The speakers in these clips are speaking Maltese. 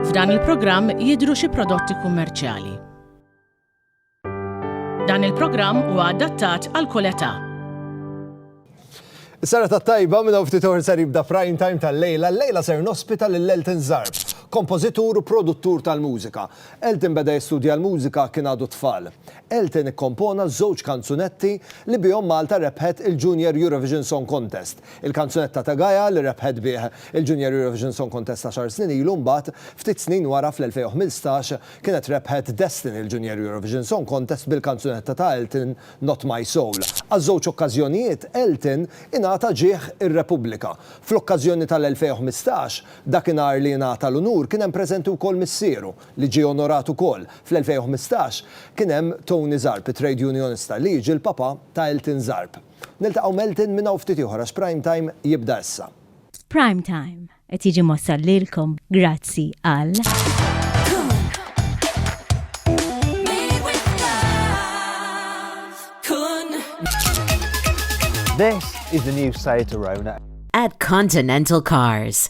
F'dan il-programm jidhru xi prodotti kummerċjali. Dan il-programm huwa adattat għal kull età. Is-sara tat-tajba minn hawn ftit oħra ser jibda prime time tal-lejla, l-lejla ser nospita lil Elton Zarb, kompożitur u produttur tal-mużika. Elton beda jistudja l-mużika kien għadu tfal. Elton ikkompona żewġ kanzunetti li bihom Malta rebħet il-Junior Eurovision Song Contest, il-kanzunetta ta' Gaia li rebħet bih il-Junior Eurovision Song Contest għaxar snin ilu mbagħad, ftit snin wara fl-2015, kienet rebħet Destin il-Junior Eurovision Song Contest bil-kanzunetta ta' Elton Not My Soul. Għaż-żewġ okkażjonijiet Elton ingħata ġieħ ir-Repubblika. Fl-okkażjoni tal-2015, dakinhar li ingħata l-unur kien hemm preżenti wkoll missieru, li ġie onorat ukoll fl-2015, kien hemm Tony Zarb, it-trade unionista li jiġi l-papà ta' Elton Zarb. Niltaqgħu m'Elton minn hawn ftit ieħor għax Prime Time jibda issa. Prime Time qed jiġi mwassal lilkom grazzi għal. This is the new Seat Arona. At Continental Cars.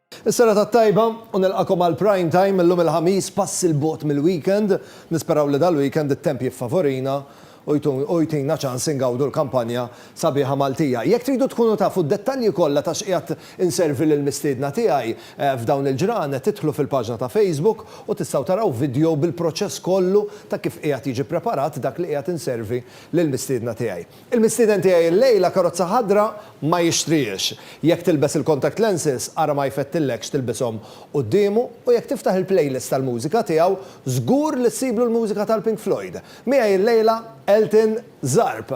Is-serata t-tajba u nilqakom għal Prime Time illum il-Ħamis pass il bogħod mill-weekend. Nisperaw li dal-weekend it-temp jiffavorina u jtina ċans ingawdu l-kampanja sabiħa Maltija. Jekk tridu tkunu tafu d-dettalji kollha ta' x'qiegħed inservi lill-mistiedna tiegħi f'dawn il-ġranet idħlu fil-paġna ta' Facebook u tistgħu taraw vidjow bil-proċess kollu ta' kif qiegħed jiġi preparat dak li qiegħed inservi lill-mistiedna tiegħi. Il-mistieden tiegħi illejla karozza ħadra ma jixtrihiex. Jekk tilbes il-contact lenses, ara ma jfettillekx tilbishom quddiemu u jekk tiftaħ il-playlist tal-mużika tiegħu, żgur li ssiblu l-mużika tal-Pink Floyd. Miegħi illejla Elton Zarb.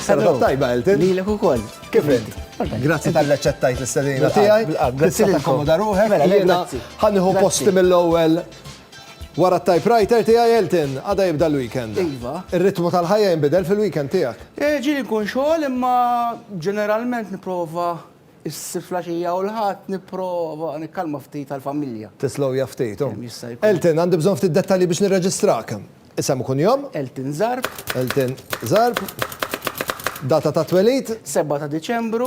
Serata tajba, Elton. Lilek ukoll. Kif int? Grazzi tal-li aċċettajt l-istedina tiegħi. Bilqgħa, bilqgħa. Grazzi tal-li takkomoda ruħek. Mela, lejla. Ħa nieħu posti mill-ewwel. Wara t-typewriter tiegħi Elton, għada jibda l-weekend. Iva. Ir-ritmu tal-ħajja jinbidel fil-weekend tiegħek? Eh, ġieli nkun xogħol imma ġeneralment nipprova ssib fl-għaxija u l-Ħadd nipprova nikkalma ftit għall-familja. Tislowja ftit, hu. Kemm jista' jkun. Elton, għandi bżonn ftit dettalji biex nirreġistrak. Isem u kunjom? Elton Zarb. Elton Zarb. Data ta' twelid? 7 ta' Diċembru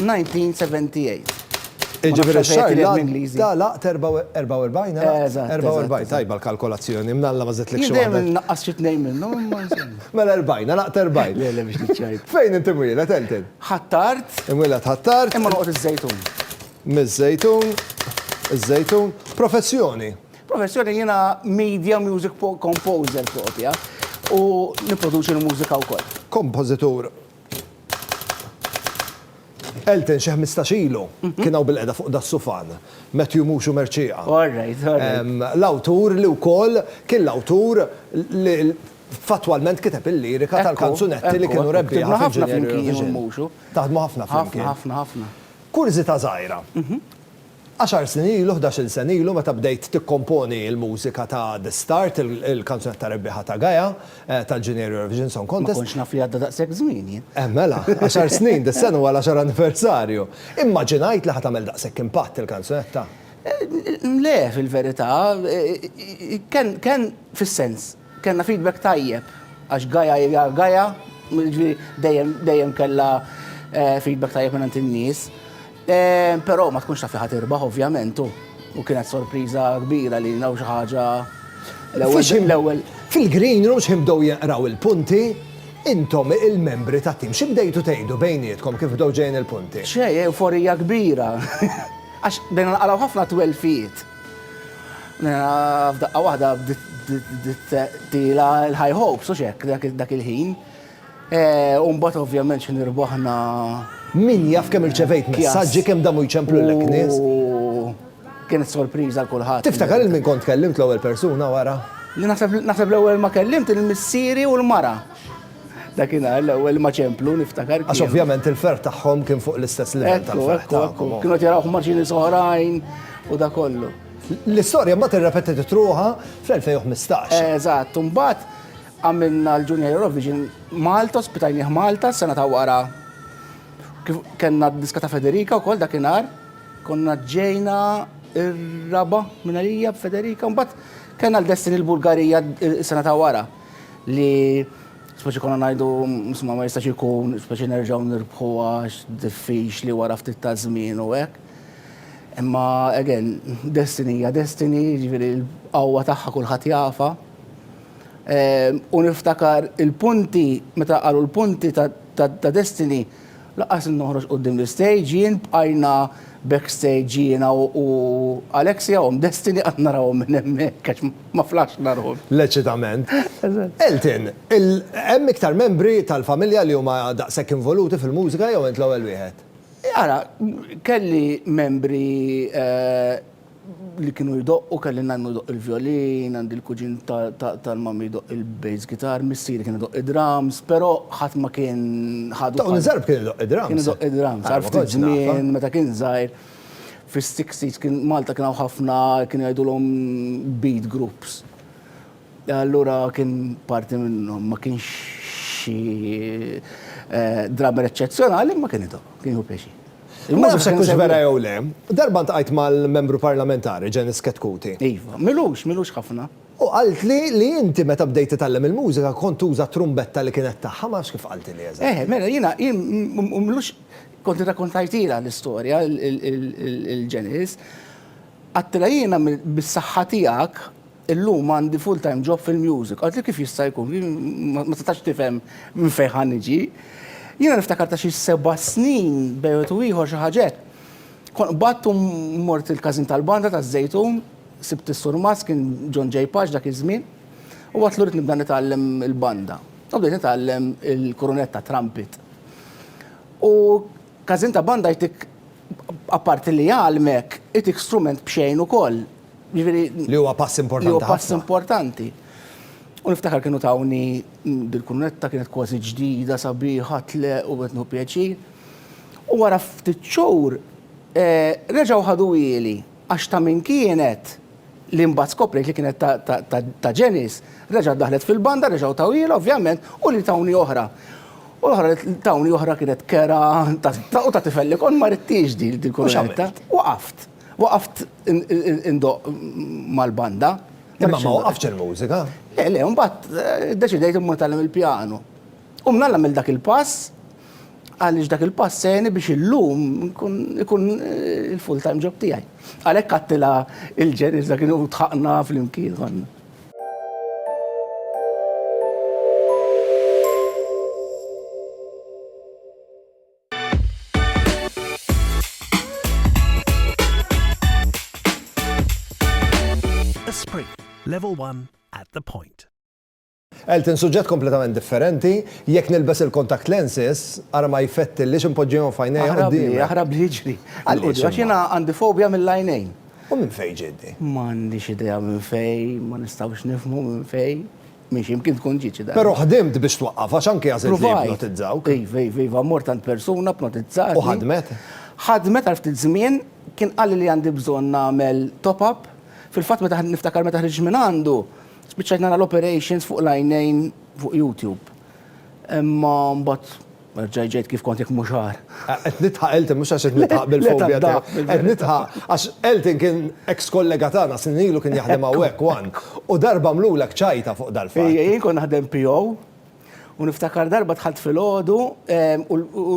1978. Iġifieri x-xahar li għadda laqt 44, għalaq? 44, tajba l-kalkolazzjoni, mnalla ma żidtlikx waħda. Jien dejjem innaqqas xi tnejn minnhom imma insomma. Mela 40, għalaqt 40. Le, le biex tiċċajt. Fejn int imwieled, Elton? Ħ'Attard. Imwieled Ħ'Attard. Imma noqgħod iż-Żejtun. Miż-Żejtun, iż-Żejtun. Professjoni? Professjoni jiena media music composer propja u nipproduċi l-mużika wkoll. Kompożitur. Elton xi ħmistax ilu kien hawn bilqiegħda fuq das-sufan, Matthew Muxu Mercieqa. All right, all right. L-awtur li wkoll kien l-awtur li fattwalment kiteb il-lirika tal-kanzunetti li kienu rebbieħa fl-Inġinieri Eurovision. Taħdmu ħafna flimkien. Ħafna, ħafna, ħafna. Kurżità żgħira. Għaxar snin ilu, ħdax-il sena ilu meta bdejt tikkomponi l-mużika ta' The Start, il-kanzunetta rebbieħa ta' Gaia, tal-Junior Eurovision Song Contest. Ma kontx naf li għadda daqshekk żmien jien. Eh mela, għaxar snin, dis-sena huwa l-għaxar anniversarju. Immaġinajt li ħa tagħmel daqshekk impatt il-kanzunetta. Le, fil-verità, kien fis-sens. Kellna feedback tajjeb għax Gaia hija Gaia, jiġifieri dejjem dejjem kellha feedback tajjeb mingħand in-nies. Però ma tkunx taf li ħa tirbaħ ovvjament u u kienet sorpriża kbira li naraw xi ħaġa l-ewwel l-ewwel. Fil-green room x'ħin bdew jinqraw il-punti, intom il-membri tat-tim xi bdejtu tgħidu bejnietkom kif bdew ġejjin il-punti? Xejn, ewforija kbira għax bdejna naqraw ħafna twelfiet. F'daqqa waħda bdiet tila l-high hopes u xek dak il-ħin. Eh, Umbat ovvjament xin irbaħna. Min jaf kemm irċevejt messaġġi kemm damu jċemplu l nies. Kienet sorpriża l kulħadd. Tiftakar il-min kont kellimt l-ewwel persuna wara? Naħseb l-ewwel ma kellimt il-missieri u l-mara. Dakinhar l-ewwel ma ċemplu niftakar. Għax ovvjament il-ferħ tagħhom kien fuq l-istess livell tal-ferħ tagħhom. Kienu qed jarawh maċini soħrajn u da kollu. L-istorja mbagħad irrepetiet itruha fl-2015. Eżatt, mbagħad għamilna l-Junior Eurovision Malta, spitajnieh Malta, sena ta' wara. Kenna diska ta' Federica wkoll dakinhar, konna ġejna ir-raba minn għalija b'Federica, mbagħad kenna l-Destiny l-Bulgarija s-sena ta' wara. li speċi konna ngħidu msma ma jistax ikun speċi nerġgħu nirbħu għax diffiċli wara ftit ta' żmien u hekk. Imma again, destiny hija destiny, ġifieri l-qawwa tagħha kulħadd jafa. Ehm, u niftakar il-punti, meta qalu l-punti ta' destiny, Laqqas li noħroġ quddiem l-istage jien bqajna backstage jiena u Alexia omm Destiny qatt narahom minn hemmhekk għax ma flaxna ruħna. L-eċitament. Elton, hemm iktar membri tal-familja li huma daqshekk involuti fil-mużika jew int l-ewwel wieħed? Ara, kelli membri li kienu jdoqqu kelli nannu jdoqq il-vjolin, għandi l-kuġin tal-mammi jdoqq il-bass guitar, missieri kien idoqq id-drums, però ħadd ma kien ħadu. Dawn iż-żgħar kien idoqq id-drums. Kien idoqq id-drums. Għal ftit żmien meta kien żgħir fis-sixties kien Malta kien hawn ħafna kien jgħidulhom beat groups. Allura kien parti minnhom ma kienx xi eh, drummer eċċezzjonali imma kien idhom, kien jieħu pjaċir. Ma nafx hekk hux vera jew le. Darba ntqajt mal-membru parlamentari Janice Ketkuti. Iva, milux, milux ħafna. U qaltli li inti meta bdejt titgħallem il-mużika kont tuża trumbetta li kienet tagħha, ma nafx kif qaltilni eżatt. Eh, mela jiena jien milux kont irrakkontajtilha l-istorja il-Janice. Għattilha jiena bis-saħħa tiegħek Illum għandi full time job fil-music. Qaltli kif jista' jkun? Jien ma setax tifhem minn fejn ħa niġi. Jiena niftakar ta' xi seba' snin bejn wieħed u ieħor xi ħaġa hekk. Kont qbadt u mort il-każin tal-banda taż-Żejtun, sibt is-surmast, kien John J. Pace dak iż-żmien, u għedtlu rrid nibda nitgħallem il-banda. U bdejt nitgħallem il-kurunetta, trumpet. U każin ta' banda jtik apparti li jgħallmek, itik strument b'xejn ukoll. Jiġifieri Li huwa pass importanti ħafna. Li huwa pass importanti. U niftakar kienu tawni dil-kunetta kienet kważi ġdida, sabiħa, tle u qed nieħu pjaċir. U wara ftit xhur eh, reġgħu ħaduhieli għax ta' min kienet li mbagħad skoprejt li kienet ta' Ġenis, reġgħet daħlet fil-banda, reġgħu tawhiela ovvjament u li tawni oħra. U l-oħra tawni oħra kienet kera u ta' tifel li kon ma rittiex din il-kunetta. Waqaft. Waqaft indoqq mal-banda. Imma ma waqaftx il-mużika. Le, le, mbagħad eh, deċidejt immur tagħlem il-pjanu. U minn nagħmel dak il-pass, għaliex dak il-pass seni biex illum ikun eh, il-full time job tiegħi. Għalhekk għattila il-ġenis dak kienu tħaqna fl-imkien Esprit, level 1 at the point. Elton, suġġett kompletament differenti, jekk nilbes il-contact lenses, ara ma jfetti li ximpoġġijom fajnej. Aħrabli, aħrabli ġri. Għalli, għaxina għandi fobja mill-lajnejn. U minn fej ġiddi? Ma għandix idea minn fej, ma nistawx nifmu minn fej. Minn x'imkien tkun ġiet xi darba. Però ħdimt biex twaqqaf għax anke għażilt li jipnotizzawk. Iva, iva, iva, mort għand persuna pnotizzatni. U ħadmet? Ħadmet għal ftit żmien, kien qalli li għandi bżonn nagħmel top up. Fil-fatt meta niftakar meta ħriġt minn għandu, spiċċajt nara l-operations fuq l-għajnejn fuq YouTube. Imma mbagħad Nerġa' ġejt kif kont jekk mhux agħar. Qed nidħaq Elton mhux għax qed nidħaq bil-fobja tiegħi. Qed nidħaq għax Elton kien eks kollega tagħna snin ilu kien jaħdem hawnhekk one u darba għamlulek ċajta fuq dal-fatt. Ejja jien kont naħdem PO u niftakar darba dħalt filgħodu u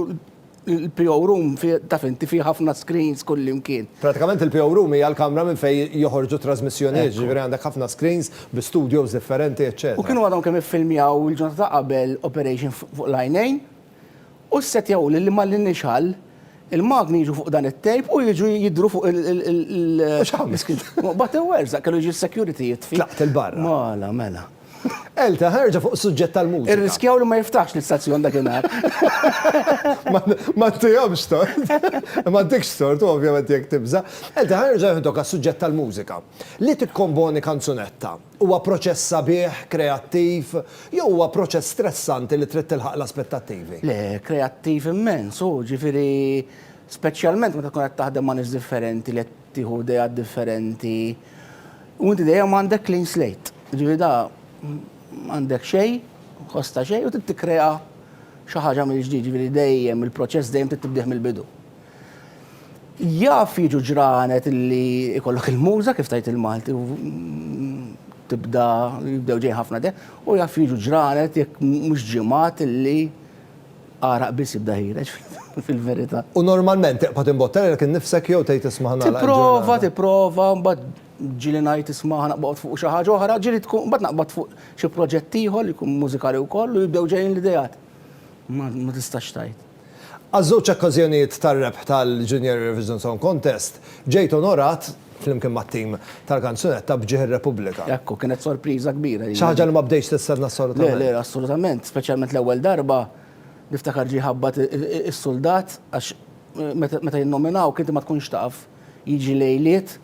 l-PO room taf inti fih ħafna screens kullimkien. Pratikament il-PO room hija l-kamra minn fejn joħorġu t-trażmissjonijiet, jiġifieri għandek ħafna screens bi studios differenti eċċetera. U kienu għadhom kemm iffilmjaw il-ġurnata ta' qabel Operation fuq l-għajnejn u ssettjaw lilli mal-initial il-magni jiġu fuq dan it-tape u jiġu jidhru fuq il-screen. Batew werżaq, kellu jiġi s-security jitfi. Tlaqt il-barra. Mala, mela. Elta, ħa erġa' fuq is-suġġett tal-mużika. Irriskjaw li ma jiftaħx l-istazzjon dakinhar. Ma ntihomx tort. Ma ntikx tort, u ovvjament jekk tibża'. Elta, ħa nerġa' nieħdok għas-suġġett tal-mużika. Li tikkomponi kanzunetta, huwa proċess sabiħ, kreattiv, jew huwa proċess stressanti li trid tilħaq l-aspettattivi? Le, kreattiv immens hu, ġifieri speċjalment meta tkun qed taħdem ma' nies differenti li qed tieħu ideat differenti u inti dejjem għandek clean slate. Ġifieri da m'għandek xejn, ħoss ta' xejn u trid tikkrea xi ħaġa mill-ġdid, ġifieri dejjem il-proċess dejjem trid tibdieh mill-bidu. Jaf jiġu ġranet li jkollok il-muża kif tajt il-Malti u tibda jibdew ġej ħafna de u jaf jiġu ġranet jekk mhux ġimgħat li għaraq biss jibda ħireġ fil-verità. U normalment tiqpa' timbottelek innifsek jew tgħid isma' ħa nagħlaq il-ġurnata? Tipprova, tipprova, mbagħad ġieli ngħid isma' ħa naqbad fuq xi ħaġa oħra, ġieli tkun mbagħad naqbad fuq xi proġett ieħor li jkun mużikali wkoll u jibdew ġejjin l-ideat. Ma tistax tgħid. Għaż-żewġ okkażjonijiet tar-rebħ tal-Junior Eurovision Song Contest, ġejt onorat, flimkien mat-tim tal-kanzunetta, b'ġieħ ir-Repubblika. Ekku, kienet sorpriża kbira lili. Xi ħaġa li ma bdejtx tistenna assolutament. Le, le, assolutament, speċjalment l-ewwel darba, niftakar ġie jħabbat is-suldat għax meta jinnominawk inti ma tkunx taf, jiġi lejliet,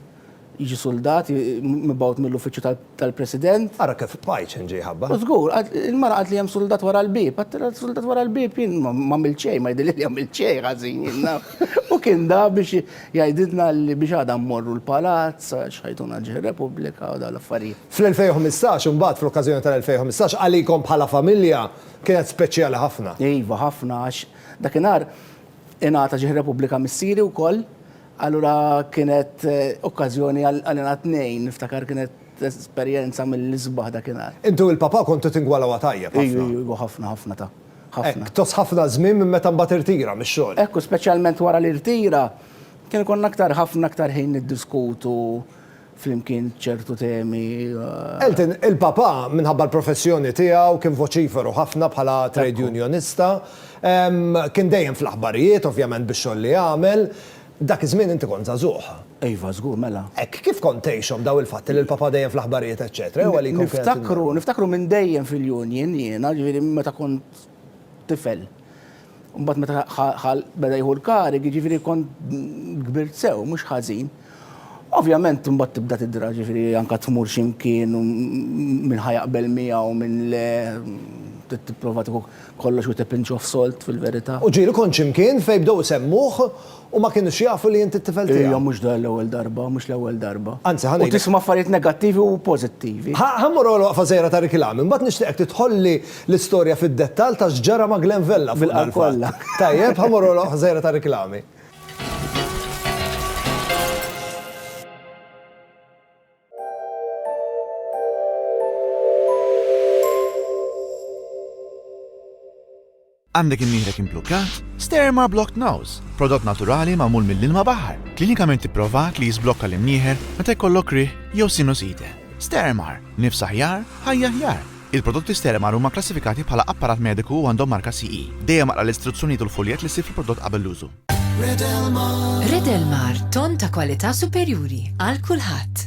Jiġi suldat, mibgħut mill-uffiċċju tal-President. Ara kif Pajcen ġie jħabbar. Żgur, il-mara qaltli hemm suldat wara l-bieb. Għattilha suldat wara l-bieb, jien m'għamilt xejn, ma jidhirli li għamilt xejn ħażin jien naf. U kien da biex jgħidilna li biex għada mmorru l-Palazz għax ħajtuna ġie r-Repubblika u dawn l-affarijiet. Fl-2015, imbagħad, fl-okkażjoni tal-2015, għalikom bħala familja kienet speċjali ħafna. Iva, ħafna għax dakinhar ingħata ġie r-Repubblika missieri wkoll. Allura kienet okkażjoni għal ingħad tnejn, niftakar kienet esperjenza mill-isbaħ dakinhar. Intu il-Papà kontu tingwalawha tajjeb ħafna. Iju, iju, iju, ħafna, ħafna ta'. Ħafna. Hekk, tgħożż ħafna żmien minn meta mbagħad irtira mix-xogħol. Hekk, u speċjalment wara li rtira, kien ikollna aktar ħafna aktar ħin niddiskutu flimkien ċertu temi. Elton, il-papà, minħabba l-professjoni tiegħu, kien voċiferu ħafna bħala trade unionista. Kien dejjem fl-aħbarijiet, ovvjament bix-xogħol li għamel. Dak iż-żmien inti kont żagħżugħ. Iva, żgur, mela. Hekk, kif kont tgħixhom dawn il-fatti li l-papà dejjem fl-aħbarijiet, eċċetera? Niftakru, niftakru minn dejjem fil-union jiena, ġifieri meta kont tifel. Mbagħad meta ħa beda jieħu l-karig, jiġifieri kont kbirt sew, mhux ħażin. Ovvjament mbagħad tibda tidra ġifieri anke tmur x'imkien minn ħajaqbel miegħu minn le tipprova tieħu kollox u tipinċoh solt fil-verità. U ġieli kont x'imkien fejn bdew isemmuh Huma kienux jafu li int it-tifel tiegħi. Iva, mhux dan l-ewwel darba, mhux l-ewwel darba. Anzi, ħa ngħidlek. U tisma' affarijiet negattivi u pożittivi. Ħa mmur għal waqfa żgħira ta' riklami, mbagħad nixtieqek tidħolli l-istorja fid-dettall ta' x'ġara ma' Glen Vella fuq dan il-fatt. Tajjeb, ħa mmur għal waqfa żgħira ta' riklami. Għandek imnieħrek imblukkat? Sterma Blocked Nose, prodott naturali magħmul mill-ilma baħar, klinikament ipprovat li jiżblokka l-imnieħer meta jkollok riħ jew sinusite. Stermar, nifs aħjar, ħajja aħjar! Il-prodotti Stermar huma kklassifikati bħala apparat mediku u għandhom marka CE. Dejjem aqra l-istruzzjonijiet u l-fuljett li ssib fil-prodott qabel l-użu. Redelmar, ton ta' kwalità superjuri għal kulħadd.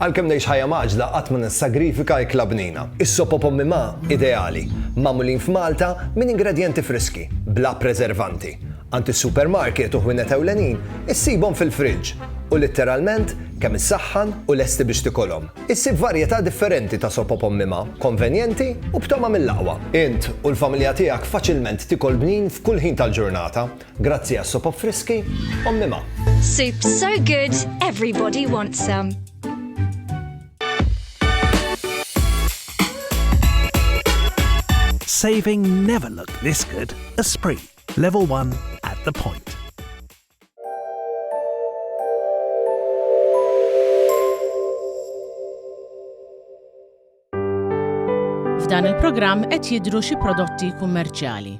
Għalkemm ngħix ħajja mgħaġġla qatt ma nissagrifika ikla bnina. Is-sop o pommi ma, ideali, magħmulin f'Malta minn ingredjenti friski, bla preservanti. Għand is-supermarket u ħwienet ewlenin issibhom fil-friġġ u litteralment kemm issaħħan u lesti biex tikolhom. Issib varjetà differenti ta' sop o pommi ma, konvenjenti u b'togħma mill-aqwa. Int u l-familja tiegħek faċilment tikol bnin f'kull ħin tal-ġurnata. Grazzi għas-sop friski, Ommi Ma. Soup so good, everybody wants some. Saving never looked this good. Esprit, level 1 at the point. F'dan il-programm qed jidhru xi prodotti kummerċjali.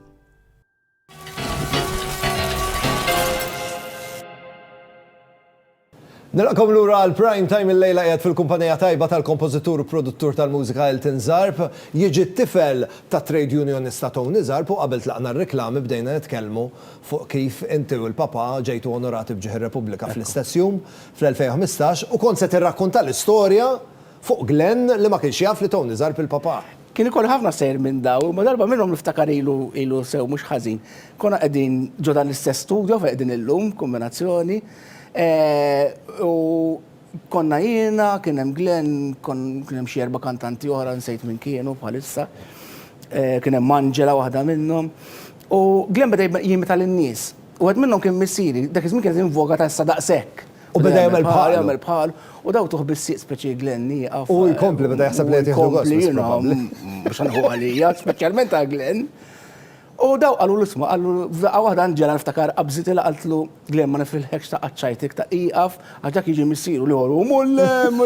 Nilqakom lura għal Prime Time il-lejla qiegħed fil-kumpanija tajba tal-kompożitur u produttur tal-mużika Elton Zarb, jiġi t-tifel tat-trade unionista Tony Zarb u qabel tlaqna r-riklami bdejna nitkellmu fuq kif inti u l-papà ġejtu onorati b'ġieħ ir-Repubblika fl-istess jum, fl-2015, u kont se tirrakkunta l-istorja Fuq Glenn li ma kienx jaf li Tony żarb il-papà. Kien ikoll ħafna sejr minn dawn, imma darba minnhom niftakar ilu ilu sew mhux ħażin. Konna qegħdin ġo dan l-istess studio fejn qegħdin illum, kombinazzjoni, u konna jiena, kien hemm Glenn, kien hemm xi erba' kantanti oħra, nsejt min kienu bħalissa, kien hemm Angela waħda minnhom. U Glenn beda jimita lin-nies. Wieħed minnhom kien missieri, dak iż-żmien kienet in voga ta' issa daqshekk. U beda jagħmel bħal, jagħmel bħal, u daw tuħ bis-sieq speċi Glenn nieqaf. U jkompli beda jaħseb li qed jieħdu gost. Biex nħu għalija, speċjalment għal Glenn. U daw qalu l-isma, qalu f'daqqa waħda nġela niftakar qabżit il qaltlu Glenn ma nifilħekx ta' qaċċajtik ta' iqaf, għax dak jiġi missiru li għoru mullem,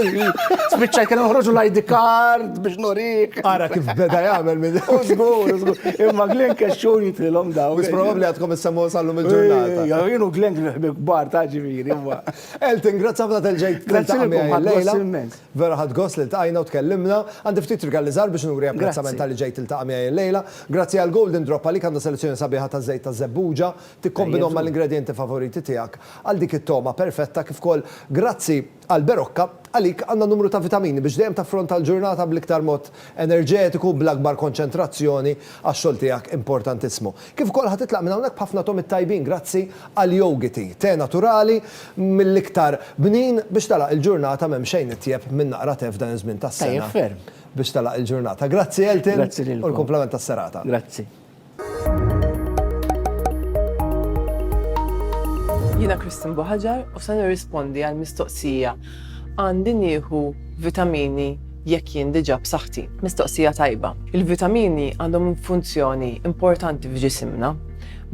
spiċċaj kien uħroġu l-ID card. biex norik. Ara kif beda jagħmel minn. Użgur, użgur. Imma Glenn kexxu jitrilhom daw. Wis probabbli għadkom issemmu sallum il-ġurnata. Ja, jienu Glenn ħbi kbar ta' ġifieri, imma. Elton, grazzi ħafna tal-ġejt. Grazzi ħafna. Vera ħadd gost li ltqajna u tkellimna. Għandi ftit rigali żgħar biex nuri apprezzament tal-li ġejt tiltaqa' miegħi llejla. Grazzi għal Golden Drop għalik għandha selezzjoni sabiħa ta' żejt ta' żebbuġa. Tikkombinhom mal-ingredjenti favoriti tiegħek għal dik it-togħma perfetta kif ukoll grazzi Għal Berocca, Għalik għandha numru ta' vitamini biex dejjem taffronta l-ġurnata bl-iktar mod enerġetiku u bl-akbar konċentrazzjoni għax-xogħol tiegħek importantissmu. Kif ukoll ħa titlaq minn hawnhekk b'ħafna togħmiet tajbin grazzi għal Yogi Tea, te naturali mill-iktar bnin biex tagħlaq il-ġurnata m'hemm xejn itjeb minn naqra te f'dan iż-żmien tas-sena biex tagħlaq il-ġurnata. Grazzi Elton u l-kumplament tas-serata. Jiena Kristin Boħaġar u se nirrispondi għal mistoqsija għandi nieħu vitamini jekk jien diġà b'saħħti. Mistoqsija tajba. Il-vitamini għandhom funzjoni importanti f'ġisimna.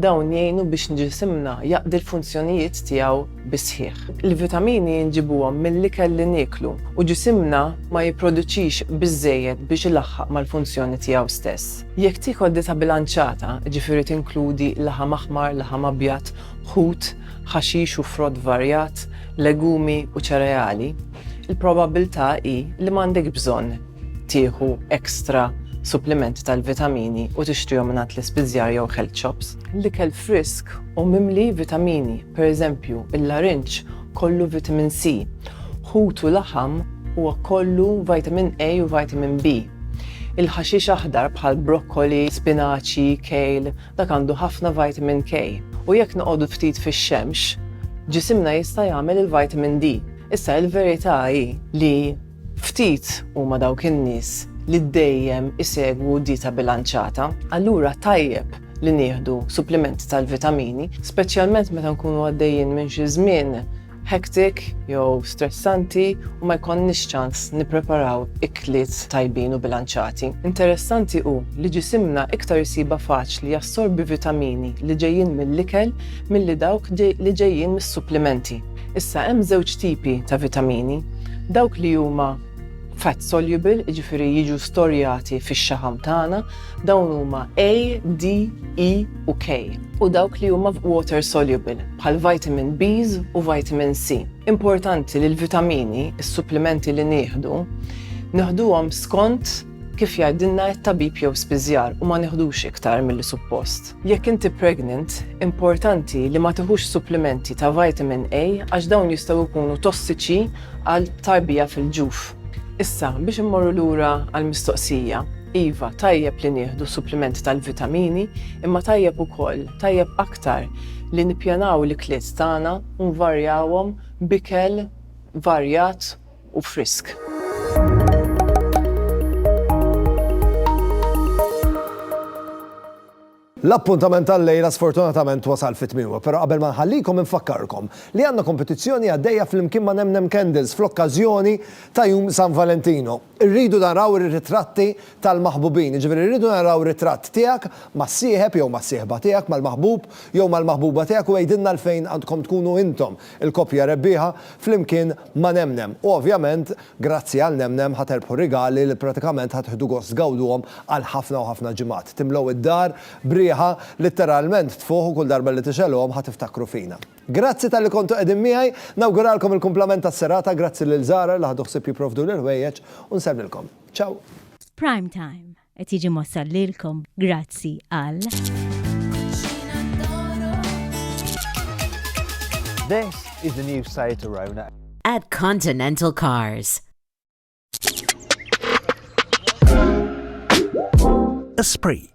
Dawn jgħinu biex nġisimna jaqdi l-funzjonijiet tiegħu bisħiħ. Il-vitamini nġibuhom mill-ikel li nieklu u ġisimna ma jipproduċix biżejjed biex ilaħħaq mal-funzjoni tiegħu stess. Jekk tiekol dieta bilanċata, jiġifieri tinkludi laħam aħmar, laħam abjad, ħut, ħaxix u frott varjat, legumi u ċereali, il-probabbiltà hi li m'għandekx bżonn tieħu ekstra supplimenti tal-vitamini u tixtrihom mingħand l-ispiżjar jew health shops. L-ikel frisk u mimli vitamini, pereżempju, il-larinġ kollu vitamin C, ħut u laħam huwa kollu vitamin A u vitamin B. Il-ħaxix aħdar bħal brokkoli, spinaċi, kejl, dak għandu ħafna vitamin K. U jekk noqogħdu ftit fix-xemx, ġisimna jista' jagħmel il-vitamin D. Issa il-verità hi li Ftit huma dawk in-nies li dejjem isegwu dieta bilanċata, allura tajjeb li nieħdu supplimenti tal-vitamini, speċjalment meta nkunu għaddejjin minn xi żmien hectic jew stressanti u ma jkollniex ċans nippreparaw ikliet tajbin u bilanċati. Interessanti hu li ġisimna iktar isibha faċli jassorbi vitamini li ġejjin mill-ikel milli dawk li ġejjin mis-supplimenti. Issa hemm żewġ tipi ta' vitamini, dawk li huma fat soluble, jiġifieri jiġu storjati fix-xaħam tagħna, dawn huma A, D, E u K, u dawk li huma water soluble, bħal vitamin Bs u vitamin C. Importanti li l-vitamini, is-supplimenti li nieħdu, neħduhom skont. Kif jgħidilna t-tabib jew spiżjar u ma nieħdux iktar milli suppost. Jekk inti pregnant, importanti li ma tiħux supplimenti ta' vitamin A għax dawn jistgħu jkunu tossiċi għal tarbija fil-ġuf. Issa, biex immorru lura għall-mistoqsija, iva, tajjeb li nieħdu supplimenti tal-vitamini, imma tajjeb ukoll, tajjeb aktar, li nippjanaw l-ikliet tagħna u nvarjawhom b'ikel varjat u frisk. L-appuntament tal-lejla sfortunatament wasal fi tmiemu, però qabel ma nħallikom infakkarkom li għandna kompetizzjoni għaddejja flimkien ma' Nemnem Candles fl-okkażjoni ta' Jum San Valentino. Irridu naraw ir-ritratti tal-maħbubin, jiġifieri rridu naraw ritratt tiegħek mas-sieħeb jew mas-sieħba tiegħek, mal-maħbub jew mal-maħbuba tiegħek u għidilna għalfejn għandkom tkunu intom il-koppja rebbieħa flimkien ma' Nemnem u ovvjament grazzi għal Nemnem ħa terbħu rigali li pratikament ħa tieħdu gost tgawduhom għal ħafna u ħafna ġimgħat. Timlew id-dar b'riħa litteralment tfuħ u kull darba li tixegħluhom ħa tiftakru fina. Grazzi talli kontu qegħdin miegħi, nawguralkom il-kumplament tas-serata, grazzi lil Zahra li ħadu ħsieb jipprovduli l-ħwejjeġ u nsellmilkom. Ciao! F'Prime Time. Qed jiġi mossal lilkom grazzi għal. This is the new Seat Arona. At Continental Cars. Esprit.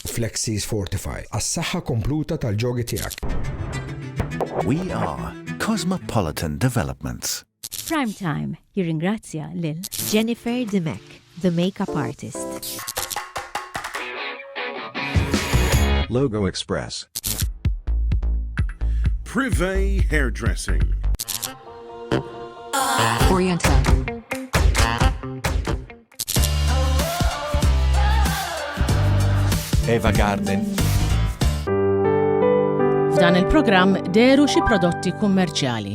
Flexis Fortify, għas-saħħa kompluta tal-ġogi tiegħek. We are Cosmopolitan Developments. Prime Time jirringrazzja lil. Jennifer Dimech, the makeup artist. Logo Express. Privé Hairdressing. Orienta. Eva Garden. F'dan il-programm deru xi prodotti kummerċjali.